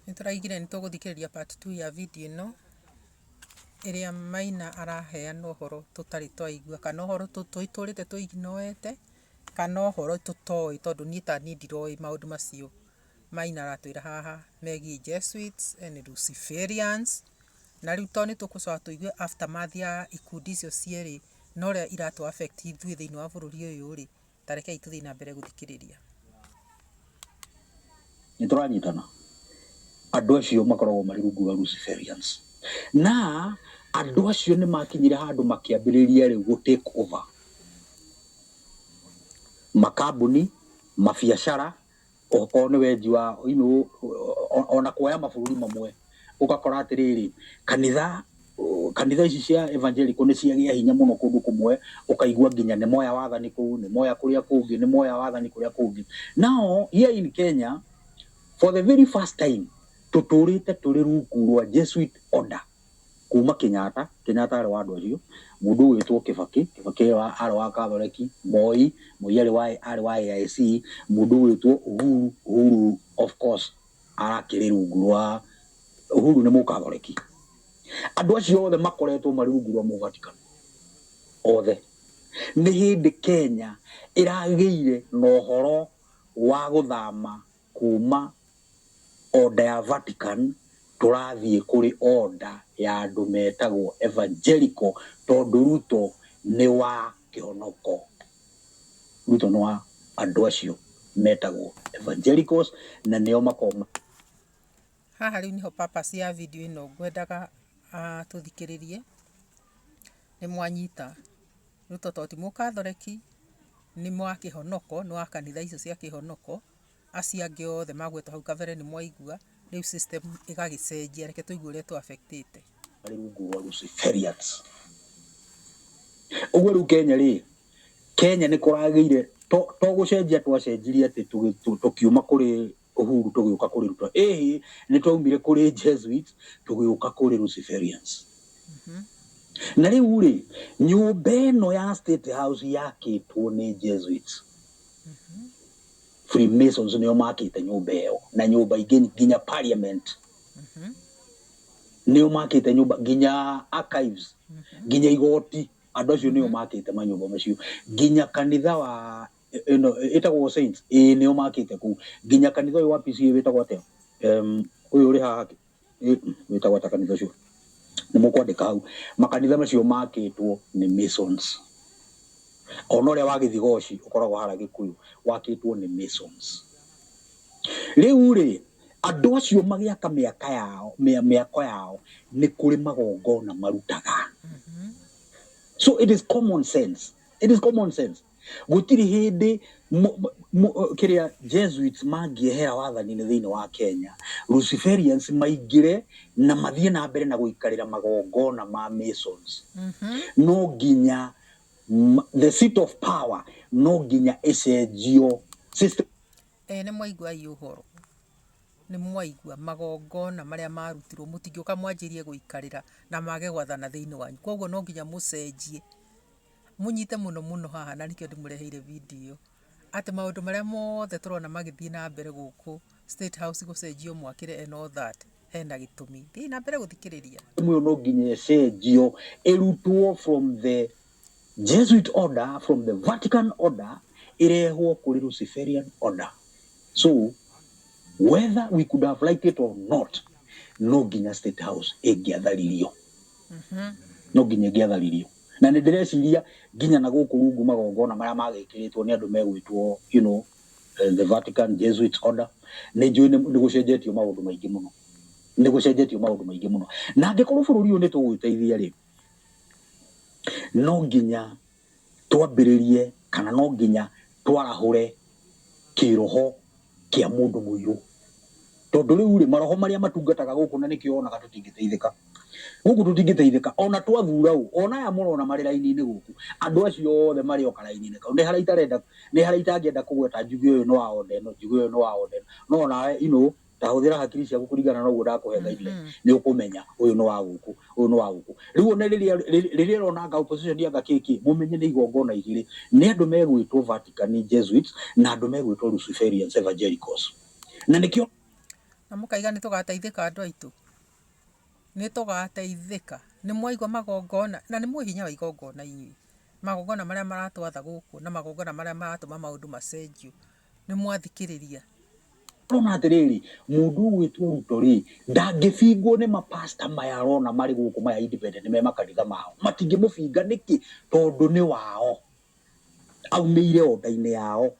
Nĩ tũraigire nĩ tũgũthikĩrĩria part two ya video ĩno ĩrĩa Maina araheana ũhoro tũtarĩ twaigua kana ũhoro tũtũrĩte tũ ignore ĩte kana ũhoro tũtoĩ tondũ niĩ ta niĩ ndiroĩ maũndũ macio Maina aratwĩra haha megiĩ Jesuits and Luciferians. Na rĩu to nĩ tũgũcoka tũigue aftermath ya ikundi icio cierĩ na ũrĩa iratu affect ithuĩ thĩinĩ wa bũrũri ũyũ rĩ, Ta rekei tũthiĩ na mbere gũthikĩrĩria. Nĩ tũranyitana? Andũ acio makoragwo marĩ rungu rwa Luciferians. Na andũ acio nĩ makinyire handũ makĩambĩrĩria rĩu gũ take over makambuni, mabiacara, Okorwo nĩ weji wa you know, ona kuoya mabũrũri mamwe ũgakora atĩrĩrĩ kanitha kanitha ici cia evangelical nĩ ciagĩa hinya mũno kũndũ kũmwe ũkaigua nginya nĩ moya wathani kũu nĩ moya kũrĩa kũngĩ nĩ moya wathani kũrĩa kũngĩ now here in Kenya for the very first time tũtũrĩte tũrĩ rungu rwa Jesuit order Kuuma Kenyatta, Kenyatta arĩ wa andũ acio, mũndũ ũgwĩtwo Kibaki, Kibaki arĩ wa Kathoreki, Moi, Moi arĩ wa arĩ wa AIC, mũndũ ũgwĩtwo Uhuru, Uhuru of course arakĩrĩ rungu rwa, Uhuru nĩ Mũkathoreki. Andũ acio othe makoretwo marĩ rungu rwa Mũvatikano, othe. Nĩ hĩndĩ Kenya ĩragĩire na ũhoro wa gũthama. Kuuma Order ya Vatican tũrathiĩ kũrĩ Order ya andũ metagwo Evangelical tondũ Ruto nĩ wa kĩhonoko. Ruto nĩ wa andũ acio metagwo Evangelicals na nĩo makoragwo. Haha rĩu nĩho purpose ya video ĩno ngwendaga tũthikĩrĩrie. Nĩ mwanyita? Ruto tondũ ti Mũkathoreki, nĩ wa kĩhonoko, nĩ wa kanitha icio cia kĩhonoko. acio angĩ othe magwetwo hau kabere nĩ mwaigua, rĩu system ĩgagĩcenjia. Reke tũigue ũrĩa tũ affect ĩte. Marĩ rungu rwa Luciferians. Ũguo rĩu Kenya rĩ, Kenya nĩ kũragĩire, to to gũcenjia twacenjirie atĩ tũkiuma kũrĩ Uhuru tũgĩũka kũrĩ Ruto. Ĩhĩ, nĩ twaumire kũrĩ Jesuit tũgĩũka kũrĩ Luciferians. Na rĩu rĩ, nyũmba ĩno ya State House yakĩtwo nĩ Jesuits. Freemasons nĩo makĩte nyũmba ĩyo na nyũmba ingĩ nginya parliament mm -hmm. nĩo makĩte nyũmba nginya archives mm -hmm. nginya igoti andũ acio nĩo mhm. makĩte manyũmba macio nginya kanitha wa ĩno ĩtagwo saints ĩĩ nĩo makĩte kũu nginya kanitha ũyũ wa PCA wĩtagwo atĩa ũyũ ũrĩ haha wĩtagwa ta kanitha ũcio nĩ mũkwandĩka hau makanitha macio makĩtwo nĩ masons ona ũrĩa wa gĩthigoci ũkoragwo hara gĩkũyũ wakĩtwo nĩ masons rĩu rĩ andũ acio magĩaka mĩaka yao mĩa- mĩako yao nĩ kũrĩ magongona marutaga so it is common sense it is common sense Gũtirĩ hĩndĩ kĩrĩa Jesuits mangĩehera wathani-inĩ thĩinĩ wa Kenya, Luciferians maingĩre na mathiĩ na mbere na gũikarĩra magongona ma Masons. No nginya the seat of power no nginya ĩcenjio. System. Ĩĩ nĩ mwaigua ii ũhoro, nĩ mwaigua magongona marĩa marutirwo mũtingĩũka mwanjĩrie gũikarĩra na mage gwathana thĩinĩ wanyu. Koguo no nginya mũcenjie. mũnyite mũno mũno haha na nĩkĩo ndĩmũreheire video atĩ maũndũ marĩa mothe tũrona magĩthiĩ na mbere gũkũ State House gũcenjio mwakĩre and all that hena gĩtũmi. Thiĩ na mbere gũthikĩrĩria. Mwe no nginya ĩcenjio ĩrutwo from the Jesuit order, from the Vatican order ĩrehwo kũrĩ Luciferian order. So whether we could have liked it or not, no nginya State House ĩngĩatharirio. Mm -hmm. No nginya ĩngĩatharirio. Na nĩ ndĩreciria nginya na gũkũ rungu magongona marĩa magĩkĩrĩtwo nĩ andũ megwĩtwo you know the Vatican Jesuits order, nĩ njũĩ nĩ gũcenjetie maũndũ maingĩ mũno. Nĩ gũcenjetie maũndũ maingĩ mũno. Na angĩkorwo bũrũri ũyũ nĩ tũgwĩteithia rĩ, no nginya twambĩrĩrie kana no nginya twarahũre kĩĩroho kĩa mũndũ mũirũ. Tondũ rĩu-rĩ, maroho marĩa matungataga gũkũ na nĩkĩo wonaga tũtingĩteithĩka. Gũkũ tũtingĩteithĩka, o na twathuura ũ, o na aya mũrona marĩ raini-inĩ gũkũ, andũ acio othe marĩ o karaini-inĩ kau. Nĩ harĩa itarenda, nĩ harĩa itangĩenda kũgweta njuge ũyũ nĩ wa order ĩno, njuge ũyũ nĩ wa order ĩno. No o nawe, you know, ta hũthĩra hakiri ciaku kũringana na ũguo ndakũhe guideline, nĩ ũkũmenya ũyũ nĩ wa gũkũ, Ũyũ nĩ wa gũkũ. Rĩu one rĩrĩa rĩrĩa ĩrona anga opposition anga kĩkĩ, mũmenye nĩ igongona igĩrĩ. Nĩ andũ megwĩtwo Vatican Jesuits na andũ megwĩtwo Luciferians Evangelicals. Na nĩkĩo. Na mũkaiga nĩ tũgateithĩka andũ aitũ? Nĩ tũgateithĩka? Nĩ mwaigua magongona? Na nĩ mũĩ hinya wa igongona inyuĩ. Magongona marĩa maratwatha gũkũ na magongona marĩa maratũma maũndũ macenjio. nĩ mwathikĩrĩria. Ũrona atĩrĩrĩ, mũndũ ũgwĩtwo Ruto rĩ, ndangĩbingwo nĩ mapasta maya arona marĩ gũkũ maya independent me makanitha mao. Matingĩmũbinga nĩkĩ? Tondũ nĩ wao. Aumĩire o nda-inĩ yao.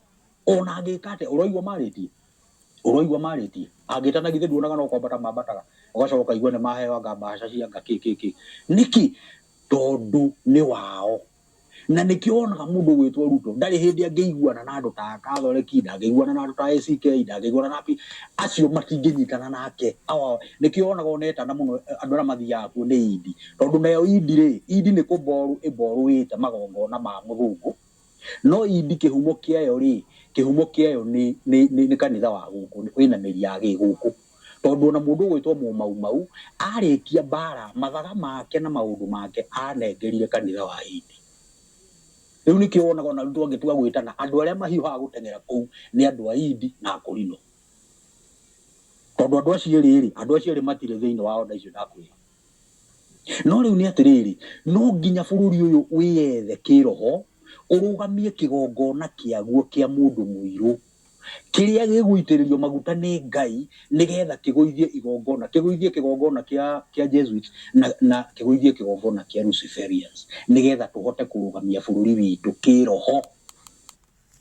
Ona angĩka atĩa, ũroigua marĩtie? Ũroigua marĩtie? Angĩtana githĩ nduonaga no kwambata mambataga? Ũgacoka ũkaigua nĩ maheo anga mbahaca cia anga kĩ kĩ kĩ. Nĩkĩ? Tondũ nĩ wao. Na nĩkĩo wonaga mũndũ ũgwĩtwo Ruto ndarĩ hĩndĩ angĩiguana na andũ ta a Kathoreki, ndangĩiguana na andũ ta a ACK, ndangĩiguana na Pi, acio matingĩnyitana nake. Awa, nĩkĩo wonaga ona etana mũno andũ arĩa mathiaga kuo nĩ Idi. Tondũ nayo Idi rĩ, Idi nĩ kũmborũ ĩmborũĩte magongona ma mũthũngũ, no Idi kĩhumo kĩayo rĩ, kĩhumo kĩayo nĩ, nĩ, nĩ, nĩ kanitha wa gũkũ, wĩna mĩri ya gĩgũkũ. Tondũ o na mũndũ ũgwĩtwo Mũmaumau arĩkia mbaara, mathaga make na maũndũ make aanengerire kanitha wa Hindi. Rĩu nĩkĩo wonaga o na rĩu twangĩtua gwĩtana, andũ arĩa mahiũhaga gũteng'era kũu nĩ andũ a Hindi na Akorino. Tondũ andũ acio erĩ-rĩ, andũ acio erĩ matirĩ thĩinĩ wa order icio ndakwĩra. No rĩu nĩ atĩrĩrĩ, no nginya bũrũri ũyũ wĩyethe kĩĩroho, ũrũgamie kĩgongona kĩaguo kĩa mũndũ mũirũ. Kĩrĩa gĩgũitĩrĩrio maguta nĩ Ngai nĩ getha kĩgũithie igongona, kĩgũithie kĩgongona kĩa, kĩa Jesuits na, na kĩgũithie kĩgongona kĩa Luciferians, nĩ getha tũhote kũrũgamia bũrũri witũ kĩĩroho.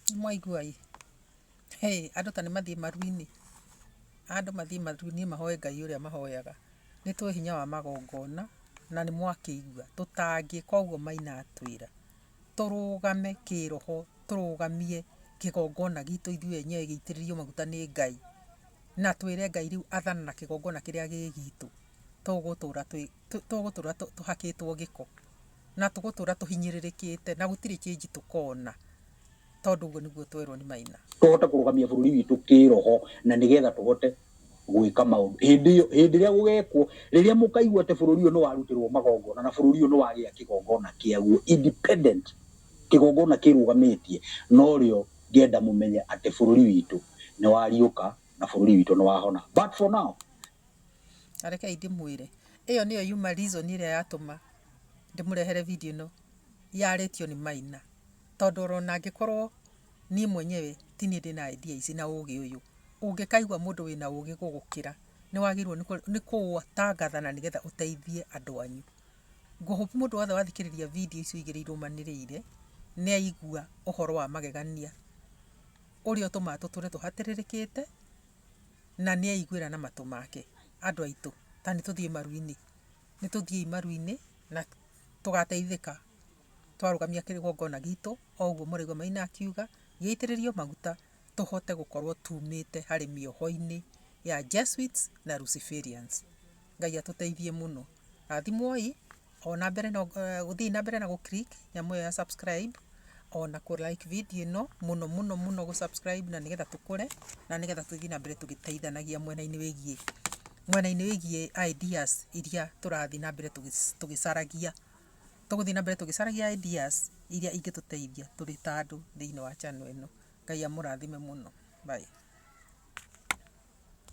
Nĩ mwaigua ĩ? Hĩ! Andũ ta nĩ mathiĩ maru-inĩ. Andũ mathiĩ maru-inĩ mahoe Ngai ũrĩa mahoyaga. Nĩ tũĩ hinya wa magongona, na nĩ mwakĩigua. Tũtangĩka ũguo maina atwĩra. tũrũgame kĩĩroho, tũrũgamie kĩgongona gitũ ithuĩ enyewe gĩitĩrĩrio maguta nĩ Ngai, na twĩre Ngai rĩu athana na kĩgongona kĩrĩa gĩ gitũ, tũgũtũra twĩ, tũgũtũra tũhakĩtwo gĩko, na tũgũtũra tũhinyĩrĩrĩkĩte na gũtirĩ change tũkona. Tondũ ũguo nĩguo twerwo nĩ Maina. Tũhote kũrũgamia bũrũri witũ kĩĩroho na nĩ getha tũhote gwĩka maũndũ. Hĩndĩ ĩyo, hĩndĩ ĩrĩa gũgeekwo, rĩrĩa mũkaigua atĩ bũrũri ũyũ nĩ warutĩrwo magongona na bũrũri ũyũ nĩ wagĩa kĩgongona kĩaguo independent, kĩgongona kĩĩrũgamĩtie, no rĩo ngenda mũmenye atĩ bũrũri witũ nĩ wariũka na bũrũri witũ nĩ wahona. But for now. Na rekei ndĩmwĩre, ĩyo nĩyo yuma reason ĩrĩa yatũma ndĩmũrehere video ĩno yarĩtio nĩ Maina. Tondũ ona angĩkorwo niĩ mwenyewe ti niĩ ndĩ na idea ici na ũgĩ ũyũ, ũngĩkaigua mũndũ wĩna ũgĩ gũgũkĩra, nĩ wagĩrĩirwo nĩ kũũtangatha na nĩgetha ũteithie andũ anyu. Ngũ hope mũndũ wothe wathikĩrĩria video icio igĩrĩ irũmanĩrĩire, nĩ aigua ũhoro wa magegania ũrĩa ũtũmaga tũtũre tũhatĩrĩrĩkĩte, na nĩ aiguĩra na matũ make. Andũ aitũ, ta nĩ tũthiĩ maru-inĩ. Nĩ tũthiĩi maru-inĩ na tũgateithĩka. twarũgamia kĩgongona gitũ o ũguo mũraigua Maina akiuga, gĩitĩrĩrio maguta tũhote gũkorwo tumĩte harĩ mĩoho-inĩ ya Jesuits na Luciferians. Ngai atũteithie mũno. Rathimwoi, o na mbere no, eh, gũthiĩi na mbere na gũ click nyamũ ĩyo ya subscribe, o na kũ like video ĩno mũno mũno mũno gũ subscribe na nĩgetha tũkũre na nĩgetha tũthiĩ na mbere tũgĩteithanagia mwena-inĩ wĩgiĩ mwena-inĩ wĩgiĩ ideas iria tũrathiĩ na mbere tũgĩ- tũgĩcaragia Tũgũthiĩ na mbere tũgĩcaragia ideas iria ingĩtũteithia tũrĩ ta andũ thĩinĩ wa channel ĩno. Ngai amũrathime mũno. Bye.